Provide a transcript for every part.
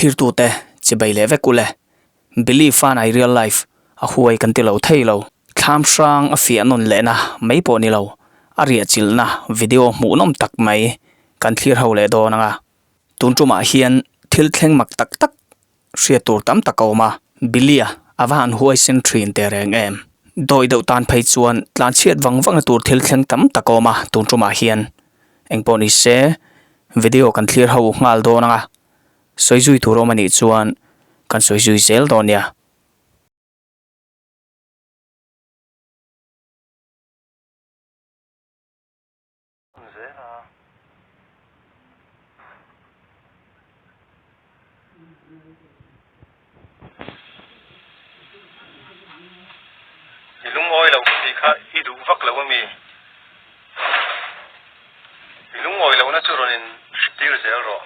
Thlir tu te chi bei leh vek u le. Believe fana i real life a huai kan ti lo thei lo. Thlam hrang a fiah nun leh na mai pawh ni lo. A riahchilh na video hmuh nawm tak mai kan thlir ho leh dawn ang a. Tun tumah hian thil thleng mak tak tak hriat tur tam tak a awm a, Billy-a a va han huai sen thin teh reng em! Dawi deuh tan phei chuan tlan chhiat vang vanga tur thil thleng tam tak a awm a tun ṭumah hian. Engpawh ni se, video kan thlir ho nghal dawn anga sawi zui tur a awm a nih chuan kan sawi zui zel dawn nia. Zena i lungawi lo ka tih kha i duh vak lo a mi. I lungawi lo na chu rawn in hritir zel rawh.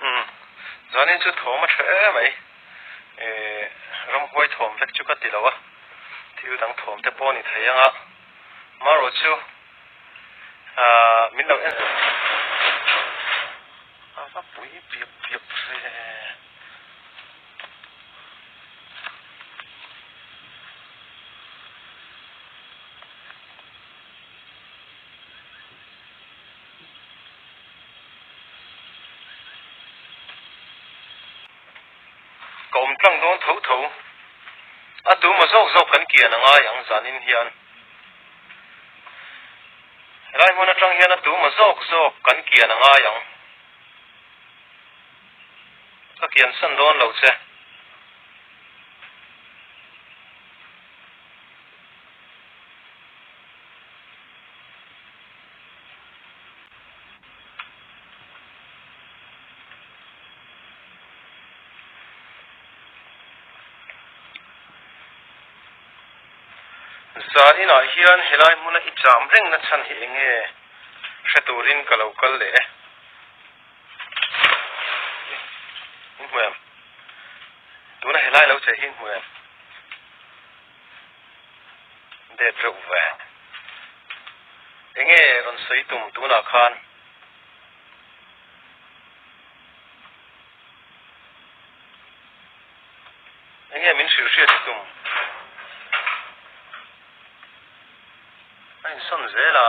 Umm. Zanin chu thawm a ṭha e mai. Ehh, ram huai thawm vek chu ka ti lo a, thil dang thawm te pawh a ni thei ang a. Marawh chu, aah, min lo en em a va pui piak piak hle e. Ka awm tlang dawn tho tho. A tuma zawk zawk kan kian a ngai ang zanin hian. Helai hmun atang hian a tuma zawk zawk kan kian a ngai ang. Ka kian san dawn lo che. Zaninah hian helai hmuna i cham rengna chhan hi eng nge? Hre turin ka lo kal leh e. Inhmuiang. Tuna helai lo che hi inhmuiang. det reuh ve. Enge rawn sawi tum tunah khan enge min hrilh hriat hi tum a insawn zel a.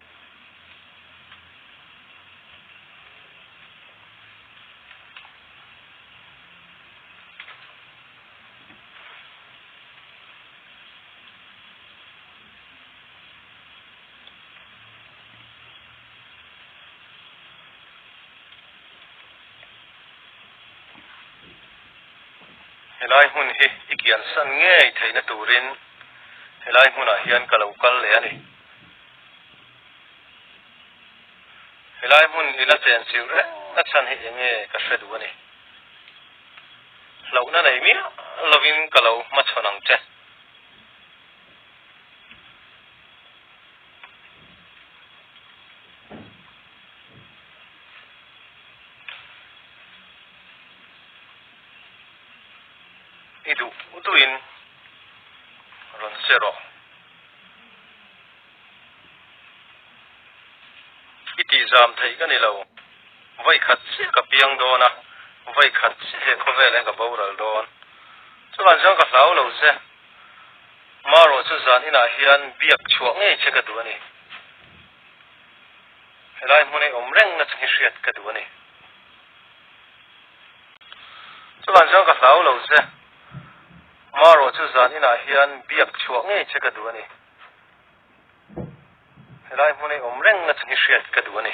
helai hmun hi i kian san ngei theihna turin helai hmunah hian ka lo kal leh a ni. Helai hmun hi la chen chilh reng a chhan hi eng nge ka hre duh a ni? Hlauhna nei miah lovin ka lo hma chhawn ang che. I duh duhin rawn che rawh. I tih zam thei ka ni lo. Vawi khat chiah ka piang dawn a, vawi khat chiah hi khawvel in ka boral dawn. Chulan chuan ka hlau lo che. Marawh chu zan inah hian biak chhuah ngei che ka duh a ni. Helai hmun hi awm reng na chu ngi hriat ka duh a ni. Chulan chuan ka hlau lo che. Marawh chu zan inah hian biak chhuah ngei che ka duh a ni. Helai hmun ei awm reng a chu ni hriat ka duh a ni.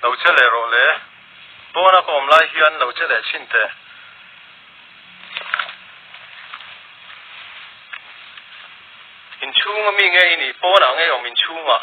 lo che leh rawh le, pawn a ka awm lai hian lo che leh chin teh. Inchhunga mi nge i nih pawnah ngei awm inchhungah.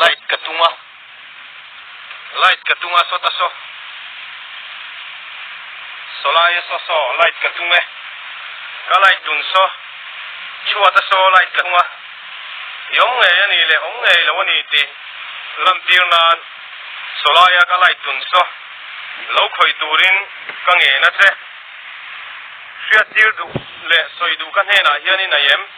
Light ka tung a, light ka tung a saw ta saw, sawlai a saw saw light ka tung e, ka light dun saw, chhuat a saw light ka tung a, i awm ngei a ni le awm ngei lo a ni tih lantir nan sawlai a ka light dun saw, lo khawih turin ka ngen a che, hriattir duh leh sawi duh ka hnenah hian in aih em?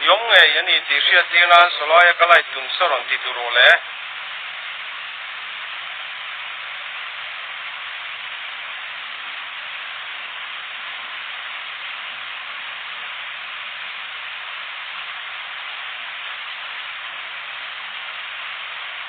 Ni awm ngei a ni tih hriat tir nan Sawlaia ka light tum sa rawn ti tur rawh le.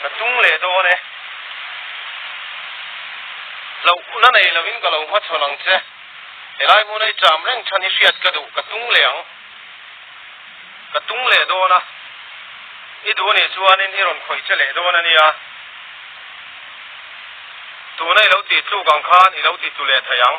Ka tung leh dawn e. Lo na nei lo in ka lo hmachhawn ang che. Helai hun hi cham reng than i hriat ka duh, ka tung leh ang. Ka tung leh dawn a. I duh anih chuan in i rawn khawih che leh dawn a nia. Tuna i lo ti tluk ang khan i lo ti tu leh thei ang.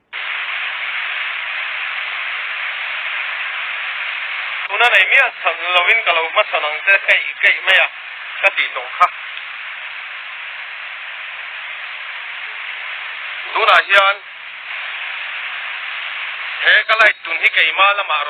Tuna nei miah chhan lovin ka lo hmasan ang che keih keih mai a ka tih tawh kha. Tunah hian he ka light tun hi keima lamah rawn.